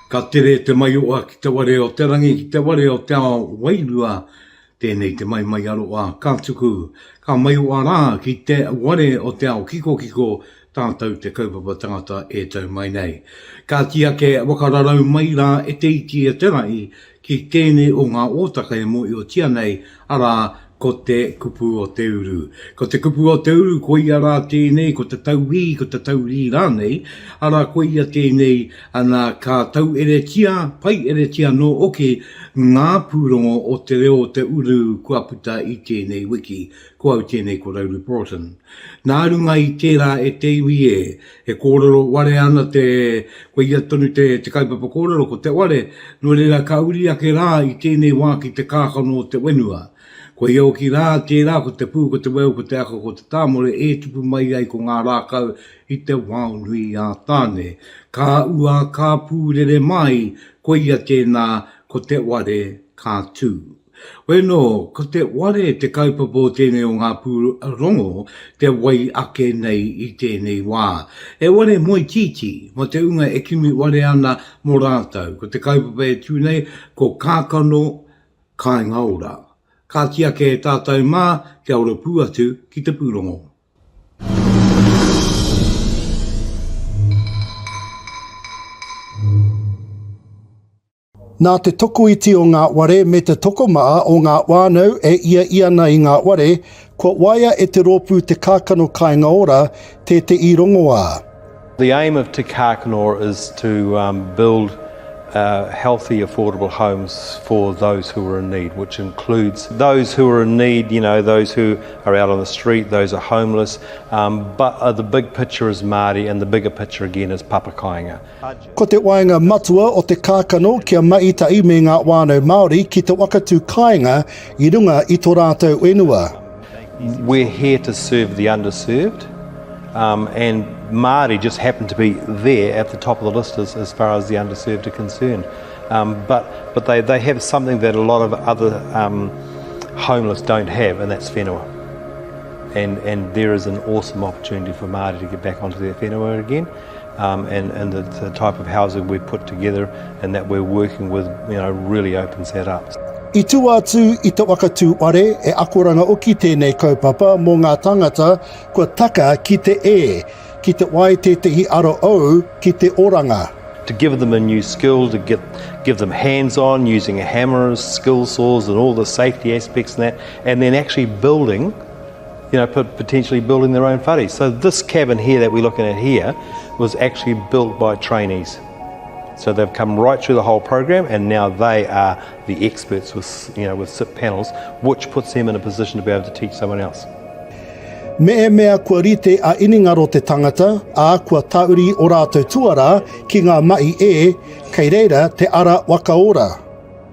Ka tere te maioa ki te ware o te rangi, ki te ware o te ao wairua, tēnei te maimaiaroa ka tuku, ka maioa rā ki te ware o te ao kikokiko, tātou te kaupapa tangata e tau mai nei. Kāti ake wakararau mai rā e te iti e te rahi, ki tēnei o ngā ōtaka e mōhiotia nei, arā, ko te kupu o te uru. Ko te kupu o te uru, koia rā tēnei, ko te tauwī, ko te taurī rānei, arā, koia tēnei, nā, ka taueretia, paieretia anō hoki ngā pūrongo o te reo o te uru kua puta i tēnei wiki. Ko au tēnei ko Rauru Broughton. Nā runga i tērā e te iwi e, E kōrero ware ana te, koia tonu te, te kaupapa kōrero, ko te ware, nō reira ka uri ake rā i tēnei wā ki te kākano o te whenua. Koia hoki rā, tērā ko te pū, ko te weu, ko te ako, ko te tāmore e tupu mai ai ko ngā rākau i te wao nui a Tāne. Ka ua, ka pūrere māi, koia tēnā, ko te ware ka tū. Weno, ko te ware te kaupapa o tēnei o ngā pūrongo te wai ake nei i tēnei wā. He ware moe tītī, mō te ūnga e kimi ware ana mō rātou. Ko te kaupapa e tū nei, ko Kākano Kāinga Ora. Kāti ake e tātou mā kia ora pū atu ki te pūrongo. Nā te tokoiti o ngā ware me te tokomaha o ngā whānau e ia i ana i ngā ware, kua waia e te rōpū Te Kākano Kāinga Ora tē te i rongoā. The aim of Te Kākano Ora is to build healthy affordable homes for those who are in need, which includes those who are in need, you know, those who are out on the street, those are homeless, but the big picture is Māori and the bigger picture again is Papa Kāinga. Ko te waenga matua o te kākano kia mahi tahi me ngā whānau Māori ki te wakatū kāinga i runga i to rātou whenua. We're here to serve the underserved um, and Māori just happen to be there at the top of the list as, as far as the underserved are concerned. Um, but but they, they have something that a lot of other um, homeless don't have, and that's whenua. And, and there is an awesome opportunity for Māori to get back onto their whenua again. and and the the type of housing we've put together and that we're working with you know really opens that up. I tua atu i te waka tūwhare, he akoranga oki tēnei kaupapa mō ngā tāngata kua taka ki te e, ki te wai tētehi aro ou ki te oranga. to give them a new skill, to get, give them hands-on using hammers, skill saws and all the safety aspects and that, and then actually building you know, potentially building their own whare. So this cabin here that we're looking at here was actually built by trainees. So they've come right through the whole program and now they are the experts with, you know, with SIP panels, which puts them in a position to be able to teach someone else. Me e mea kua rite a iningaro te tangata, a kua tauri o rātou tuara ki ngā mahi e, kei reira te ara wakaora.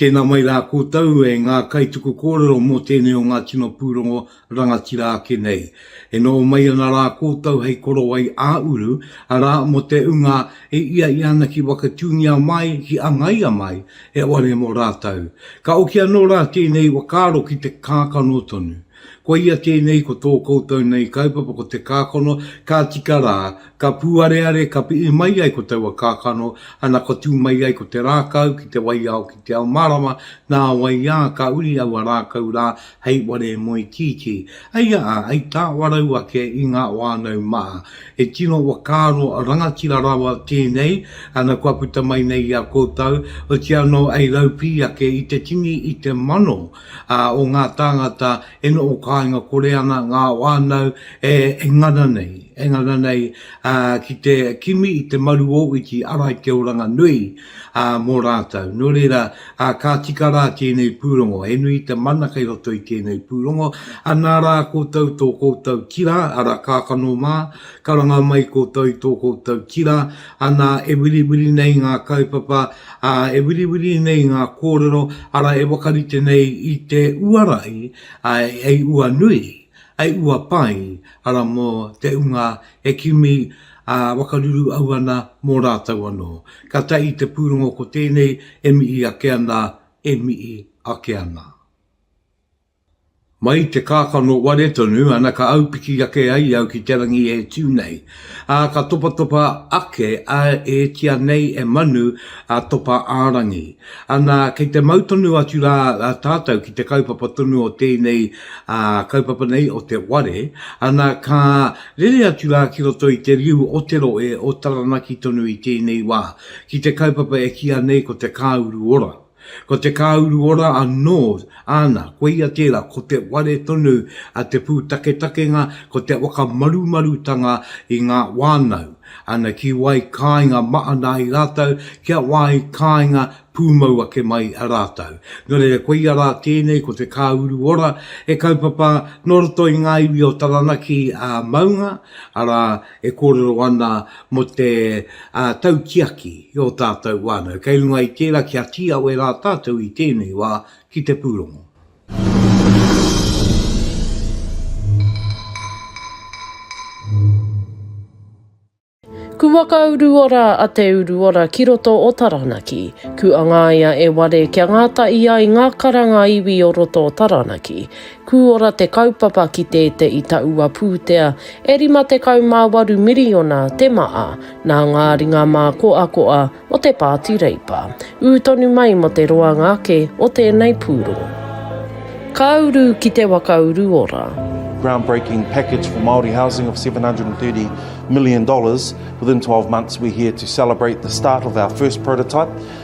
Tēnā mai rā koutou e ngā kaituku kōrero mō tēnei o ngā tino pūrongo rangatira ake nei. E noho mai ana rā koutou hei korowai ā-uru, arā, mō te ūnga e ia i ana ki Wakatūngia mai, ki Angaia mai, he ware mō rātou. Ka oki anō rā tēnei wakaaro ki te kākano tonu. Koia tēnei ko tō koutou nei kaupapa ko te kākano, ka tika rā, ka pūareare, ka piʻi mai ai ko taua kākano, ana ka tū mai ai ko te rākau ki te waiao ki te ao mārama, nā wai ā, ka uri aua rākau rā hei ware moe tītī. Hei aha, hei tāwarau ake i ngā wānau mā. He tino whakaaro rangatira rawa tēnei, ana kua puta mai nei i a koutou, otianō hei raupī ake i te tini i te mano, ā, o ngā tāngata e noho kāinga kore ana ngā whānau e ngana nei, e ngana nei ā, ki te kimi i te maru o Iti Ara i te oranga nui ā, mō rātou. Nō reira, ā, ka tika rā tēnei pūrongo, he nui te mana kei roto i tēnei pūrongo, anā rā koutou tō koutou tira, arā kākano mā, karanga mai koutou i tō koutou tira, anā, e wiriwiri nei ngā kaupapa, Ā, e wiriwiri nei ngā kōrero, arā, e whakarite nei i te uara i, ā, hei ua nui, hei ua pai, arā, mō te unga e kimi, ā, wakaruru au ana mō rātou anō. Ka tae i te pūrongo ko tēnei e mihi ake ana, e mihi ake ana. Mai i te kākano ware tonu, ana ka aupiki ake ai au ki te rangi e tū nei. Ā, ka topatopa ake a e tia nei e Manu a Topa ā-rangi. Ana, kei te mau tonu atu rā tātou ki te kaupapa tonu o tēnei kaupapa nei o te ware, ana, ka rere atu rā ki roto i te riu o te rohe o Taranaki tonu i tēnei wā, ki te kaupapa e kīa nei ko te Kāuru Ora. Ko te kāuru ora anō āna, koia tērā, ko te ware tonu a te pūtaketakenga, ko te whakamarumarutanga i ngā wānau, ana ki wai kāinga mahana ai rātou, kia wai kāinga pūmau ake mai rātou. Nō reira, koia rā tēnei ko te kāuru ora, he kaupapa nō roto i ngā iwi o Taranaki ā Maunga, arā, e kōrero ana mō te tautiaki i ō tātou whānau. Kei runga i tērā kia tīawe rā tātou i tēnei wā ki te pūrongo. Ku waka uruora a Te Uruora ki roto o Taranaki. Ku angaia e Ware kia ngātahi ai ngā karanga iwi o roto o Taranaki. Kūora te kaupapa ki te te i taua pūtea, e 58 miriona te maa nā ngā ringa mākoakoa o te Pāti Reipa, ū tonu mai mō te roanga ake o tēnei pūrongo. Ka uru ki te waka uru ora. groundbreaking package for Māori housing of $730 million within 12 months we're here to celebrate the start of our first prototype.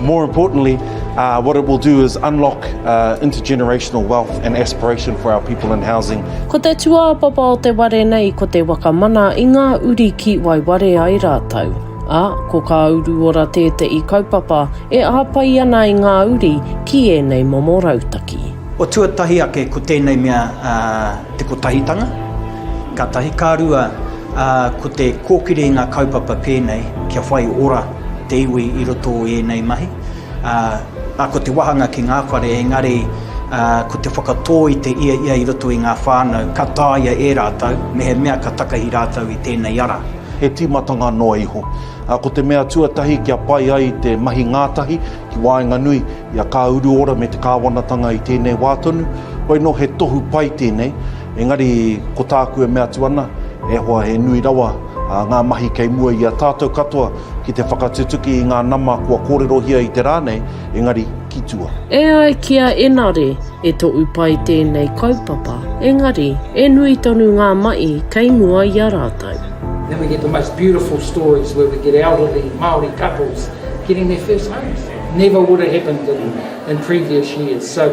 More importantly, uh, what it will do is unlock uh, intergenerational wealth and aspiration for our people in housing. Ko te tuāpapa o te ware nei ko te wakamana i ngā uri ki waiware ai rātou. A, ko kā uru ora tētehi kaupapa e āpai ana i ngā uri ki ēnei momo rautaki. O tuatahi ake ko tēnei mea uh, te kotahitanga, ka tahi, ka rua uh, ko te kōkiri i ngā kaupapa pēnei kia whai ora te iwi i roto i ēnei mahi, ā, ā, ko te wāhanga ki ngā whare, engari, ā, ko te whakatō i te ia ia i roto i ngā whānau, ka tāia e rātou, mehemea ka takahi rātou i tēnei ara. He tīmatanga noa iho, ā, ko te mea tuatahi kia pai ai te mahi ngātahi ki waenganui i a Kāuruora me te kāwanatanga i tēnei wā tonu, hoino he tohu pai tēnei, Engari, ko tāku e mea atu ana, e hoa he nui rawa ngā mahi kei mua i a tātou katoa ki te whakatutuki i ngā nama kua kōrerohia i te rā nei, engari ki tua. E ai ki a Enare, e toʻu pai tēnei kaupapa, engari, e nui tonu ngā maʻi kei mua i a rātou. Then we get the most beautiful stories where we get elderly Māori couples getting their first homes. Never would have happened in previous years. So,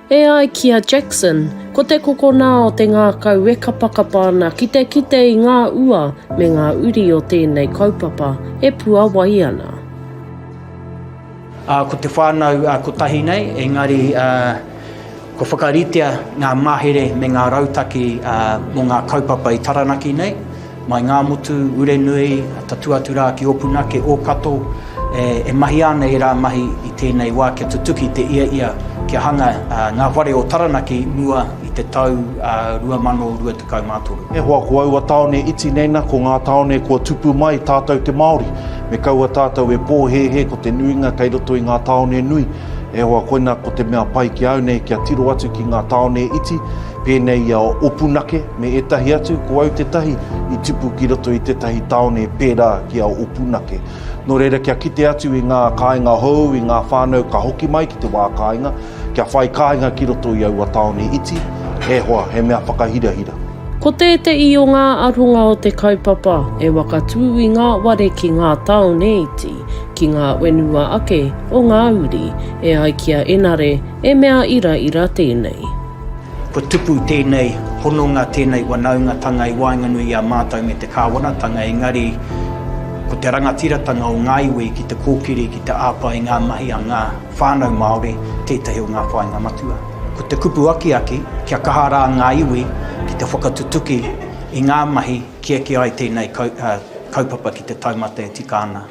E ai ki a Jackson, ko te kokona o te ngākau e kapakapa ana ki te kite i ngā ua me ngā uri o tēnei kaupapa e puawai ana. Ā, ko te whānau kotahi nei, engari kua whakaritea ngā mahere me ngā rautaki mō ngā kaupapa i Taranaki nei, Mai ngā motu, ure nui, tatū atu rā ki Ōpunake, Ōkato, e mahia ana ērā mahi i tēnei wā kia tutuki te iaia kia hanga ngā whare o Taranaki mua i te tau 2023. E hoa ko aua tāone iti nei na ko ngā tāone kua tupu mai tātou te Māori. Me kaua tātou e pōhēhē ko te nuinga kei roto i ngā tāone nui. E hoa koina ko te mea pai ki au nei kia tiro atu ki ngā tāone iti, Pēnei i a Opunake me ētahi atu, ko au tētahi i tupu ki roto i tētahi tāone pērā ki a Opunake. Nō reira kia kite atu i ngā kāinga hou, i ngā whānau ka hoki mai ki te wā kāinga, kia whai kāinga ki roto i aua tāone iti, e hoa, he mea whakahirahira. Ko tēteī o ngā aronga o te kaupapa e wakatū i ngā ware ki ngā tāone iti, ki ngā wenua ake o ngā uri, e ai ki a Enare, e mea iraira tēnei. Kua tupu tēnei hononga, tēnei wanaungatanga i waenganui i a mātou me te Kāwanatanga, engari ko te rangatiratanga o ngā iwi ki te kōkiri, ki te āwha i ngā mahi a ngā whānau Māori tētahi o ngā whāinga matua. Ko te kupu akiaki, kia kaha rā ngā iwi ki te whakatutuki i ngā mahi ki eke ai tēnei kaupapa ki te taumata e tika ana.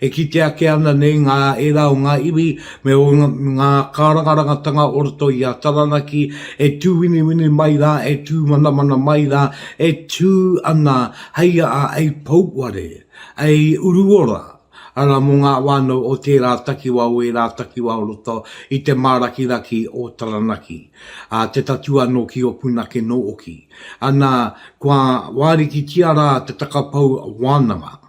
E kite ake ana nei ngā ērā o ngā iwi me ō ngā kārangarangatanga o roto i a Taranaki e tūwiniwini mai rā, e tūmanamana mai rā, e tū ana hei aha, hei pouware, hei uruora, arā, mō ngā whānau o tērā takiwā, o ērā takiwā o roto i te mārakiraki o Taranaki, ā, te tatū anō ki Opuna kē nō oki. Ana, kua wārikitia rā te takapau wānanga.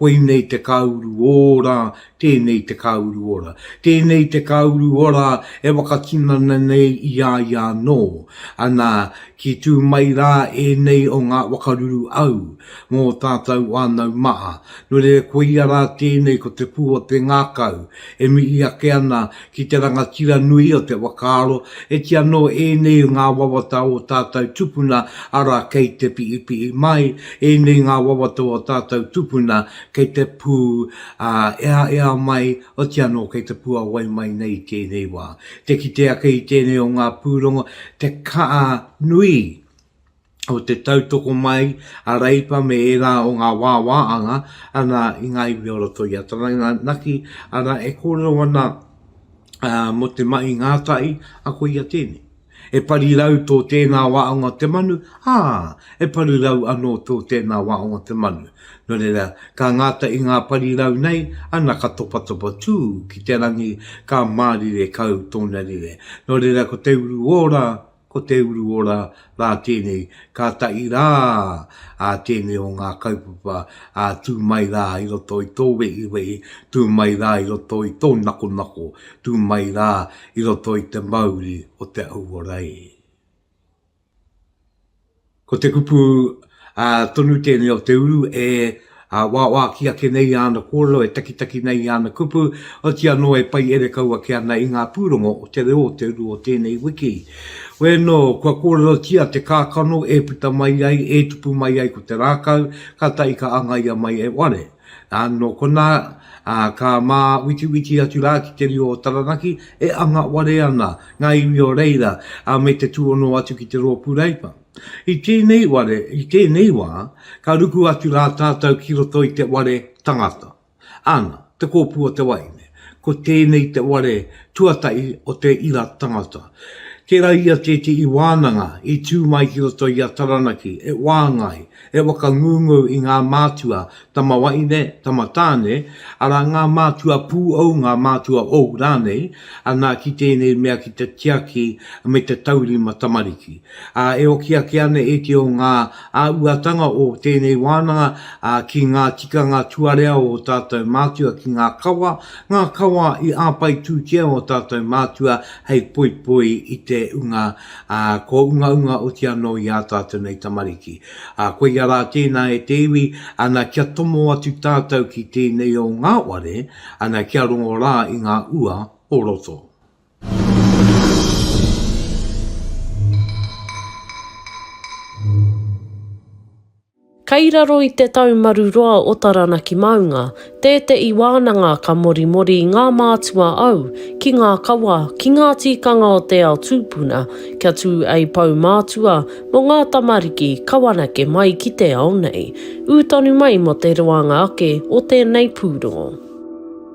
Koinei te kāuru ora, tēnei te kāuru ora. Tēnei te kāuru ora e whakatinana nei i a ia anō. Ana, ki tū mai rā ēnei o ngā wakaruru au, mō tātou whānau maha. Nō reira koia rā tēnei ko te pū o te ngākau, e mihi ake ana Ki te rangatira nui o te whakaaro, e ti anō ēnei ngā wawata o tātou tupuna, arā, kei te pihipihi mai ēnei ngā wawata o tātou tupuna, kei te pū, ā, eaea mai, oti anō kei te puawai mai nei i tēnei wā. Te kite ake i tēnei o ngā pūrongo, te kaha nui o te tautoko mai a Reipa me ērā o ngā wāwāanga ana i ngā iwi o roto i a Taranaki, arā, e kōrero ana uh, mō te mahi ngātahi, a ko ia tēnei. E pari rau tō tēnā waonga te manu, ā, e pari rau anō tō tēnā waonga te manu. Nō reira, ka ngāta i ngā pari rau nei, ana ka topatopa tū ki te rangi, ka mārire kau tōna rire. Nō reira, ko te uru ora, Ko Te Uru Ora rā tēnei, kātahi rā ā tēnei o ngā kaupapa ā tū mai rā i roto i tō wehiwehi, tū mai rā i roto i tō nakonako, tū mai rā i roto i te mauri o te auora e. Ko te kupu tonu tēnei o te uru e wāwāki ake nei i āna kōrero, e takitaki nei i āna kupu, oti anō e pai ere kau ake ana i ngā pūrongo o te reo o te uru o tēnei wiki. Wē nō, kua kōrerotia te kākano e puta mai ai, e tupu mai ai ko te rākau, kātahi ka angaia mai e ware. Ā, nō konā, ā, ka māwitiwiti atu rā ki te reo o Taranaki, e anga ware ana ngā iwi o reira, ā, me te tūhono atu ki te Rōpū Reipa. I tēnei ware, i tēnei wā, ka ruku atu rā tātou ki roto i te ware tangata. Āna, Te Kōpū o te Waeine, ko tēnei te ware tuatahi o te ira tangata. Tērā ia tētehi wānanga i tū mai ki roto i a Taranaki, e whāngai, He whakangungu i ngā mātua, tama wahine, tama tāne, arā ngā mātua pūʻou, ngā mātua ou rānei, anā ki tēnei mea ki te tiaki me te taurima tamariki. Ā, e oki ake ana e te o ngā āhuatanga o tēnei wānanga ki ngā tikanga tuarea o ō tātou mātua ki ngā kawa, ngā kawa i āpaitūtia ō tātou mātua hei poipoi i te unga Ā, kua ungaunga oti anō i ā tātou nei tamariki. Ā, koia rā tēnā e te iwi, ana, kia tomo atu tātou ki tēnei o ngā ware, ana, kia rongo rā i ngā ua o roto. Kei raro i te taumaru roa o Taranaki maunga, tēteʻi wānanga ka morimori ngā mātua au ki ngā kawa, ki ngā tīkanga o te ao tūpuna kia tū ei pou mātua mo ngā tamariki kawanake mai ki te ao nei. Ū tonu mai mo te roanga ake o tēnei pūrongo.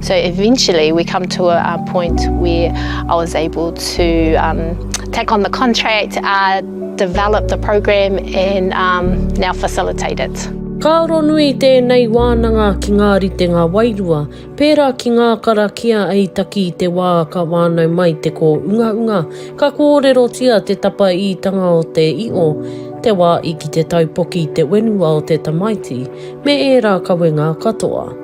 So eventually we come to a, a point where I was able to um, take on the contract, uh, develop the program and um, now facilitate it. Ka aro nui tēnei wānanga ki ngā ritenga wairua, pērā ki ngā karakia ei taki i te wā ka wānau mai te kōunga unga, ka kōrerotia te tapa ītanga o te io, te wā i ki te taupoki te wenua o te tamaiti, me ērā kawenga katoa.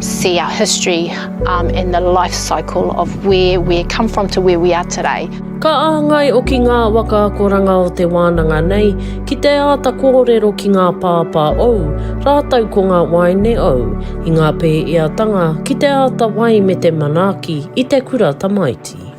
see our history and the life cycle of where we come from to where we are today. Ka āngai oki ngā waka akoranga o te wānanga nei ki te āta kōrero ki ngā pāpā ou rātou ko ngā waeine ou i ngā pēeatanga ki te āta wai me te manaaki i te kura tamaiti.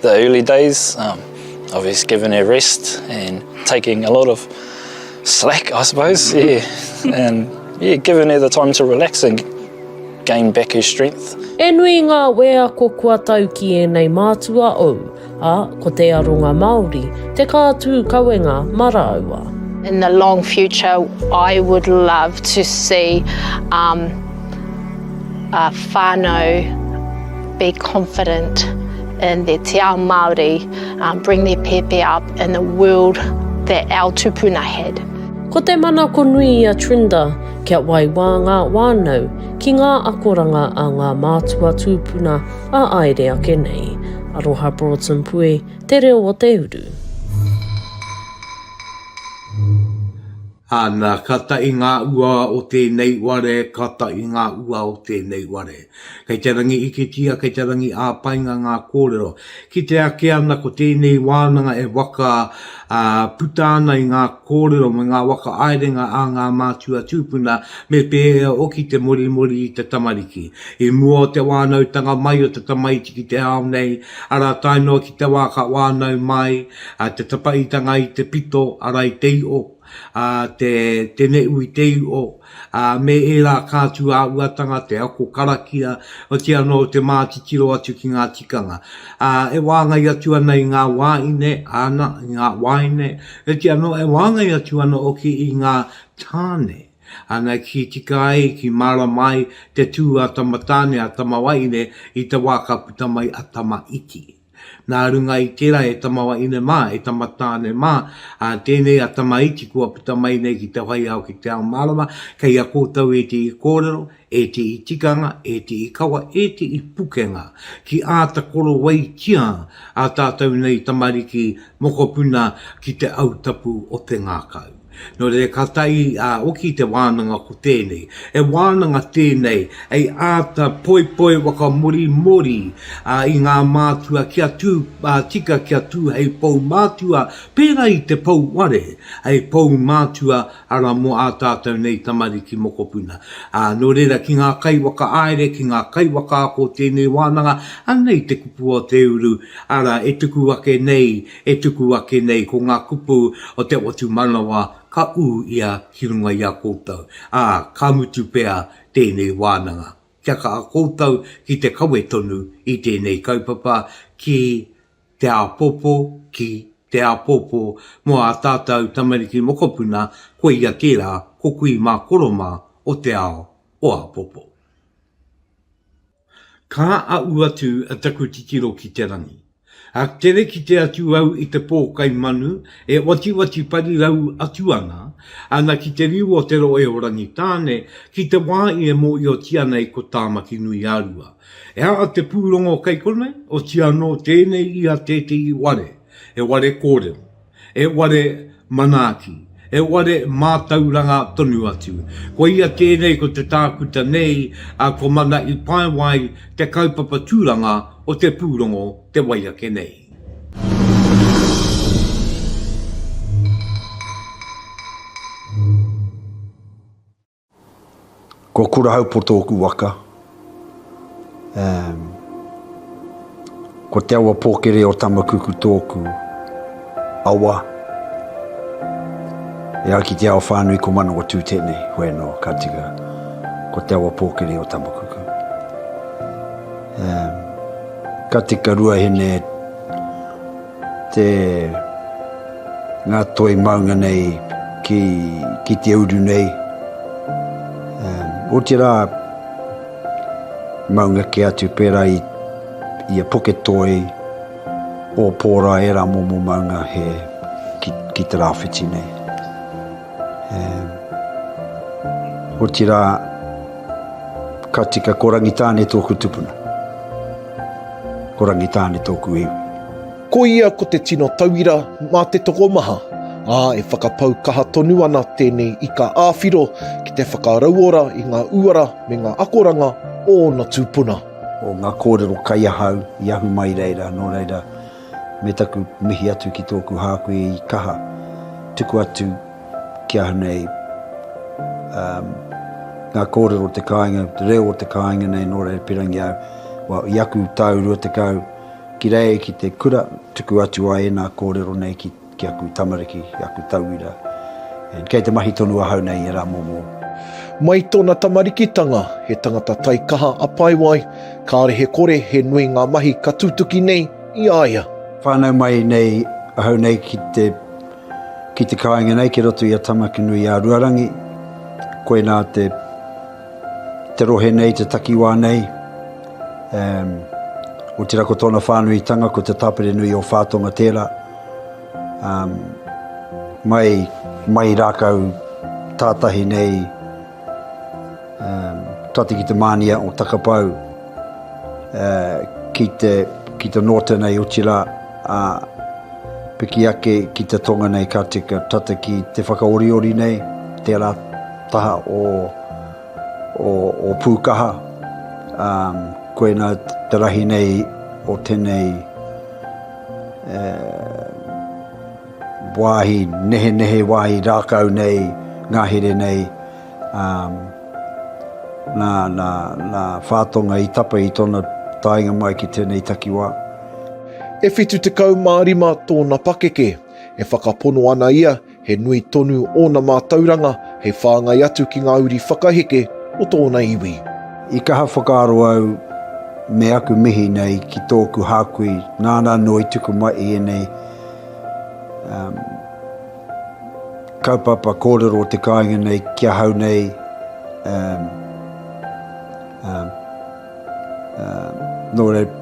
The early days um of us giving her rest and taking a lot of slack I suppose yeah and yeah giving her the time to relax and gain back her strength. He nui ngā wēako kua tau ki ēnei mātua ou, ā, ko te aronga Māori te kā tū kawenga mā rāua. In the long future I would love to see um a whānau be confident in their te ao Māori, bring their pepe up in the world that our tupuna had. Ko te manako nui i a Trinda kia waiwā ngā wānau ki ngā akoranga a ngā mātua tūpuna a aere ake nei. Aroha Broughton Pue, Te Reo o Te Uru. Ana, ka taʻi ngā ua o tēnei ware, ka taʻi ngā ua o tēnei ware. Kei te rangi iketia, kei te rangi āpainga ngā kōrero. Kite ake ana ko tēnei wānanga e waka, ā, puta ana i ngā kōrero me ngā whakaāerenga a ngā mātua tūpuna me pēhea hoki te morimori i te tamariki. I mua o te wānautanga mai o te tamaiti ki te ao nei, Arā, tae noa ki te wā ka wānau mai te tapaitanga i te pito, arā, i te iʻo, te teneʻu i te iʻo, me ērā kātū āhuatanga, te ako karakia, otirā anō te mātitiro atu ki ngā tikanga. E wāngai atu ana i ngā wāhine, āna, i ngā waeine, otirā anō e wāngai atu ana hoki i ngā tāne. Ana ki tika ai, ki mārama ai te tū a Tamatāne, a Tamawaine i te wā ka puta mai a Tamaiti. Nā runga i tērā e Tamawaine mā, e Tamatāne mā, ā, tēnei a Tamaiti kua puta mai nei ki te whai ao ki te ao mārama, kei a koutou ētehi kōrero, ētehi tikanga, ētehi kawa, ētehi pukenga ki āta korowaitia ā tātou nei tamariki mokopuna ki te autapu o te ngākau. Nō reira ka tae i a Oki te wānanga ko tēnei. He wānanga tēnei hei āta poipoi whakamōrimōri i ngā mātua kia tū tika kia tū hei pou mātua pērā i te pou ware hei pou mātua arā mō ā tātou nei tamariki mokopuna. Nō reira ki ngā kaiwhakaāere ki ngā kaiwhakaako o tēnei wānanga anei te kupu o te uru arā e tuku ake nei e tuku ake nei ko ngā kupu o te whatumanawa ka ū ia ki runga i a koutou, ā, ka mutu pea tēnei wānanga. Kia kaha koutou ki te kawe tonu i tēnei kaupapa ki te āpōpō, ki te āpōpō mō ā tātou tamariki mokopuna, koia kē rā, ko kui mā koro mā o te ao o āpōpō. Ka aʻu atu a taku titiro ki te rangi. A tere kite atu au i te pō kai manu e watiwati parirau atu ana, ana ki te riu o te rohe o Rangitāne, ki te wā i e mōhiotia nei ko Tāmakinui-a-Rua. E aha te pūrongo kai konei? Otianō tēnei ia tētehi ware, he ware kōrero. He ware manaaki, he ware mātauranga tonu atu. Koia tēnei ko te tākuta nei a Ko Mana i Paewai te kaupapa tūranga o te pūrongo te wai ake nei. Ko Kurahaupoto oku waka. Um, ko Te Awa Pōkere o Tamakuku tōku awa. E ai ki te ao whānui ko Manawa Tū tēnei, hoi anō, ka tika. Ko Te Awa Pōkere o Tamakuku. Um, ka tika ruahine Te nga toi maunga nei ki ki te uru nei um otira maunga ke atu pera i i a poke toi o pora era momo maunga he ki ki te rawhiti nei um otira ka tika ko rangitane toku tupuna. Ko Rangitāne tōku iwi. Ko ia ko te tino tauira mā te tokomaha, ā, e whakapau kaha tonu ana tēnei ika ā-whiro ki te whakarauora i ngā uara me ngā akoranga o ōna tūpuna. O ngā kōrero kai ahau i ahu mai reira, nō reira. me taku mihi atu ki tōku hākui i kaha tuku atu ki ahau nei ngā kōrero o te kāinga, te reo o te kāinga nei nō Rerepirangi au, well, i aku tau 20, ki reira ki te kura tuku atu ai ēnā kōrero nei ki Ki aku tamariki, ki aku tauira, and kei te mahi tonu ahau nei i era momo. Mai tona tamarikitanga, he tangata taikaha a Paewai, kare he kore he nui nga mahi ka tutuki nei i a ia. Whanau mai nei ahau nei ki te ki te kainga nei ki roto i a Tamakinui-a-Ruarangi, koina te te rohe nei, te takiwa nei, um, otira ko tona whanuitanga ko te tapere nui o Whatonga tera. Mai rākau tātahi nei tata ki te mānia o Takapau ki te Norton hei oti rā, ā, piki ake ki te tonga nei ka tika tata ki te whakaoriori nei, tērā taha o Pūkaha, koinā te rahi nei o tēnei. He wāhi nehenehe, wāhi rākau nei ngahere nei, nā Whātonga i tapa i tōna taenga mai ki tēnei takiwā. E 75 tōna pakeke, e whakapono ana ia He nui tonu ōna mātauranga hei whāngai atu ki ngā uri whakaheke o tōna iwi. I kaha whakaaro au me aku mihi nei ki tōku hākui nāna anō i tuku mai i ēnei kaupapa kōrero o te kāinga nei ki ahau nei, Nō reira,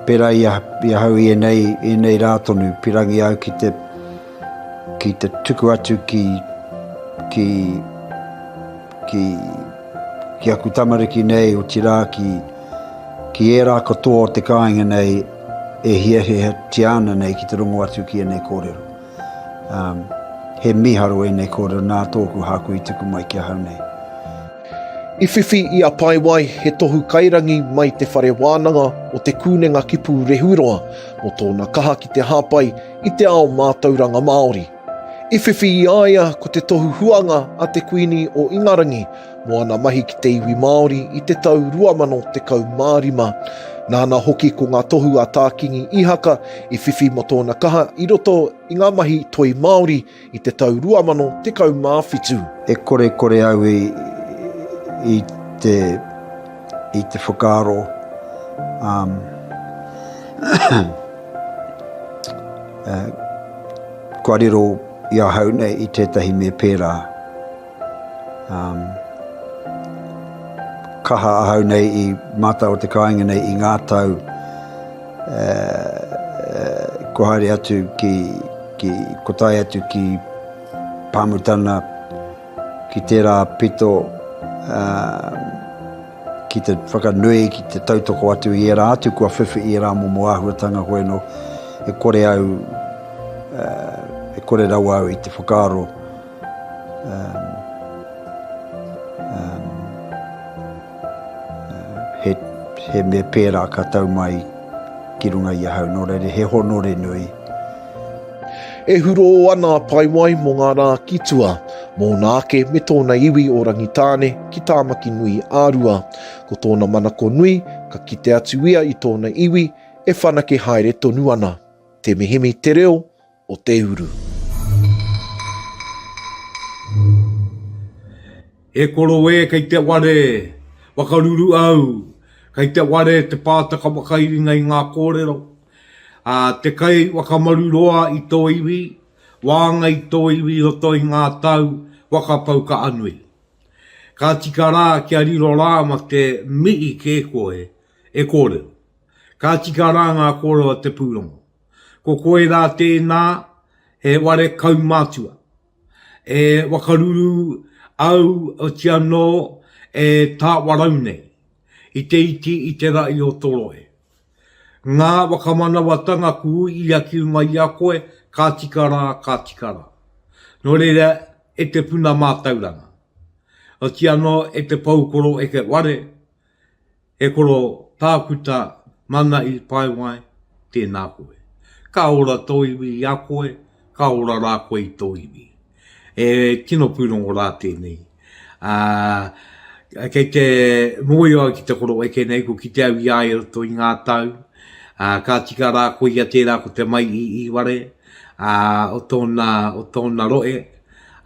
pērā i ahau i ēnei rā tonu, pirangi au ki te ki te tuku atu ki ki ki ki aku tamariki nei o tira ki ki era katoa o te kāinga nei e hiahia tiana nei ki te rongo atu ki ēnei kōrero. He mīharo ēnei kōrero nā tōku hāku i tuku mai ki ahau nei. I whiwhi i a Paewai he tohu kairangi mai Te Whare Wānanga o Te Kūnenga Kipu Rehuroa mō tōna kaha ki te hāpai i te ao mātauranga Māori. I whiwhi i a ia ko te tohu huanga a te Kuini o Ingarangi Mō ana mahi ki te iwi Māori i te tau 2015, nāna hoki ko ngā tohu a Tā Kingi Ihaka i whiwhi mō tōna kaha i roto i ngā mahi toi Māori i te tau 2017. E kore kore au i i te i te whakaaro um kua riro i ahau nei i tētahi me pērā. Kaha ahau nei i mātau o te kāinga nei i ngā tau kua haere atu ki, kua tae atu ki Pāmutana, ki tērā pito ki te whakanui, ki te tautoko atu i ērā atu kua whiwhi i ērā momo āhuatanga hoi anō, e kore au, e kore rawa au i te whakaaro. He mea pērā ka tau mai ki runga i ahau, nō reira he honore nui. E hurō ana a Paewai mō ngā rā ki tua, mōna ake me tōna iwi o Rangitāne ki Tāmaki nui a Rua. Ko tōna manako nui, ka kite atu ia i tōna iwi e whanake haere tonu ana. Te mihimi te reo, o te uru. E koro e, kei te ware, whakaruru au, kei te ware te pātaka whakairinga i ngā kōrero, ā, te kai whakamaru roa i tō iwi, wānga i tō iwi i roto i ngā tau whakapau ka anui. Ka tika rā kia riro rā ma te mihi kē koe e kōrero. Ka tika rā ngā kōrero a te pūrongo. Ko koirā tēnā he ware kaumātua. E wakaruru au oti anō e Tāwarau nei, i te iti i te ra'i o to rohe. Ngā wakamanawatanga ku uia ki runga i a koe, ka tika rā, ka tika rā. Nō reira, e te puna mātauranga, oti anō e te poukoro eke ware, He koro tākuta mana i paewae, tēnā koe. Ka ora tō iwi i a koe, ka ora rā koe i tō iwi. He tino pūrongo rā tēnei. Ā, kei te mōhio au ki te koro eke nei, kua kite au i a ia i roto i ngā tau, ā, ka tika rā ko ia tērā ko te mai i Iware, ā, o tōna, o tōna rohe,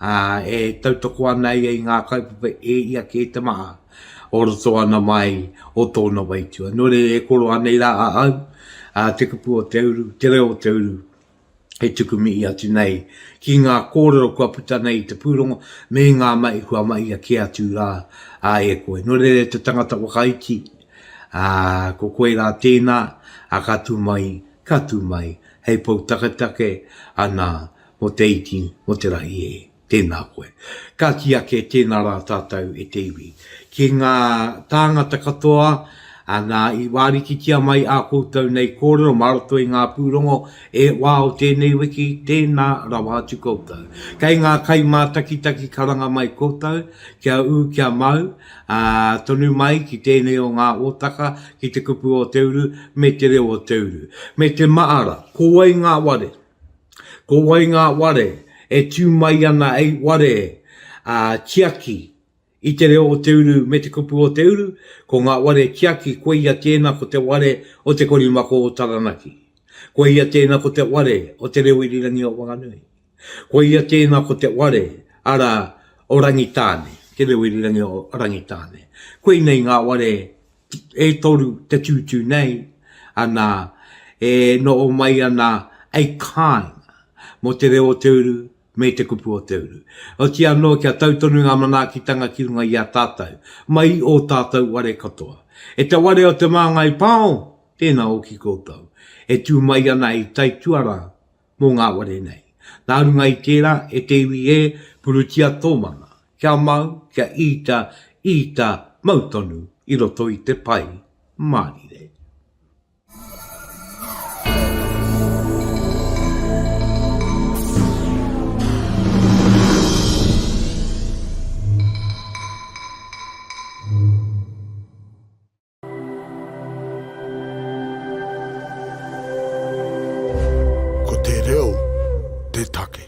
ā, e tautoko ana ia i ngā kaupapa e ia kē te maha. o roto ana mai o tōna waitua. Nō reira e koro anei rā a au, a te kupu o te uru, te reo o te uru, e tuku mihi atu nei ki ngā kōrero kua puta nei i te pūrongo me ngā mahi kua mahia kē atu rā e koe. Nō reira e te tangata whakaiti, a, ko koe rā tēnā, a ka tū mai, ka tū mai, hei pou taketake, anā, mō te iti, mō te rahi e. Tēnā koe. Ka kī ake tēnā rā tātou e te iwi. Ki ngā tāngata katoa, nā, i wārikitia mai ā koutou nei kōrero mā roto i ngā pūrongo e wā o tēnei wiki, tēnā rawa atu koutou. Kei ngā kai mātakitaki karanga mai koutou, kia ū kia mau, ā, tonu mai ki tēnei o ngā hōtaka, ki te kupu o te uru, me te reo o te uru. Me te māra, ko wai ngā ware? Ko wai ngā ware e tū mai ana hei ware tiaki i te reo o te uru me te kupu o te uru? Ko ngā ware tiaki koia tēnā ko te ware o Te Korimako o Taranaki. Koia tēnā ko te ware o Te Reo Irirangi o Whanganui. Koia tēnā ko te ware, arā, o Rangitāne, Te Reo Irirangi o Rangitāne. Koinei ngā ware e toru te tūtū nei, ana, e noho mai ana a kāinga mō te reo o te uru me te kupu o te uru. Oti anō kia tau tonu ngā manaakitanga ki runga i a tātou, mai i ō tātou ware katoa. E te ware o Te Māngai Pāo, tēnā hoki koutou, e tū mai ana hei taituarā mō ngā ware nei. Nā runga i tērā, e te iwi ē, purutia tō mana, kia mau, kia īta, īta, mau tonu i roto i te pai mārire. Ko te reo te take.